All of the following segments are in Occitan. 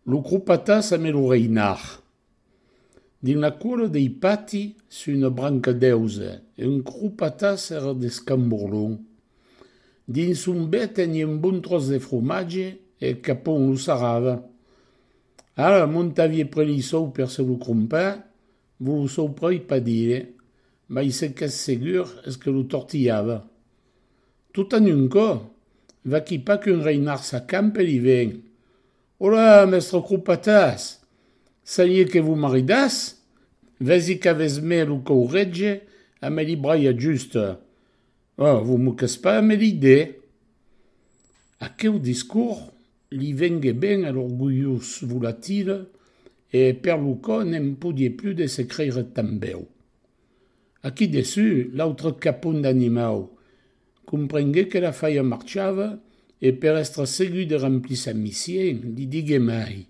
Lo cropatas ame lo reinar. Dins la còla dei pati, sus una branca d'èuze, un cropatas èra d'escamborlon. Dins son bèc tenie un bon tròç de fromatge e eth capon lo sarrava. Ara montavie près li sòu per se lo crompar, vos lo sòu pròi pas dire, mai se qu'ès segur es que lo tortilhava. Tot en un cò, vaquí pas qu'un reinard s'acampe li ven. Olà, mèstre Cropatas! Salié que vos maridàs? Vèsi qu'avètz mès lo còu rètge a me li braiar just. Ò, vos moquètz pas a me li de? Aqueu discors li vengué ben a l'orgulhós volatil e per lo cò ne'n podié plus de se creire tanbèu. Aquí dessus, l'autre capon d'animau comprengué que la faia marchava e per èstre segur de remplir sa mission, li digué mai,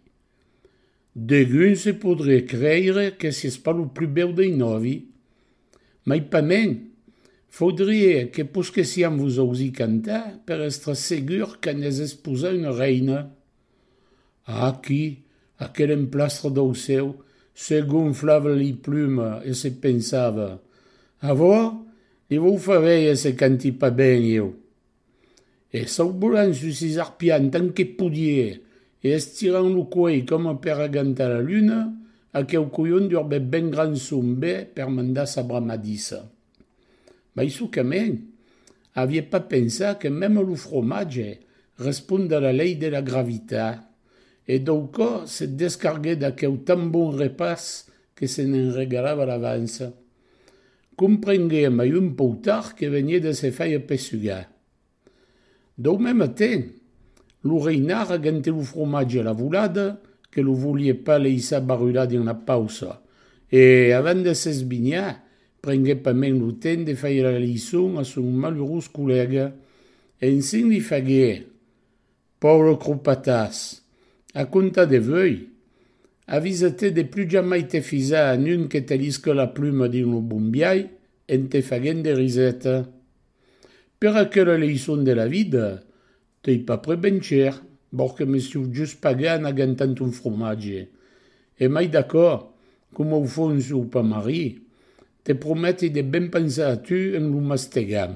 Degun se podrié creire que sies pas lo plus bèu dei nòvi, mai pas mèn, faudrié que posquessiam vos ausir cantar per èstre segur que n'es esposa una reina. A aquí, aquel emplastre d'aucèu se gonflava li plumas e se pensava, Avua, li vau far veir se canti pas ben ieu! E saubolant sus sos arpians tant que podie e estirant lo cuelh coma per agantar la luna, aqueu colhon durbèt ben grand son be per mandar sa bramadissa. Mai sucament, avié pas pensat que mème lo fromatge respond a la lei de la gravitat, e dau cò se descarguèt d'aqueu tan bon repàs que se ne'n regalava l'avança. Comprengué mai un pauc tard que venié de se faire pessugar. Dau mème te, lo reinard agente lo fromatge a la volada que lo volie pas leissar barrular dins la pausa e, avant de s'esbinhar, prenguèt pas mens lo temps de faire la leçon a son malurós collèga. Ensin li faguèt, Pauvre cropatàs! A comptar de vuei, avisa-te de plus jamai te fisar a nun que te lisque la pluma dins lo bombiai en te faguent de riseta. Per aquela leiçon de la vida, t'ei pas près ben chèr, vòr que me siu just pagar en agantant un fromatge. E mai d'aquò, coma au fons o pas marri, te prometi de ben pensar a tu en lo mastegam.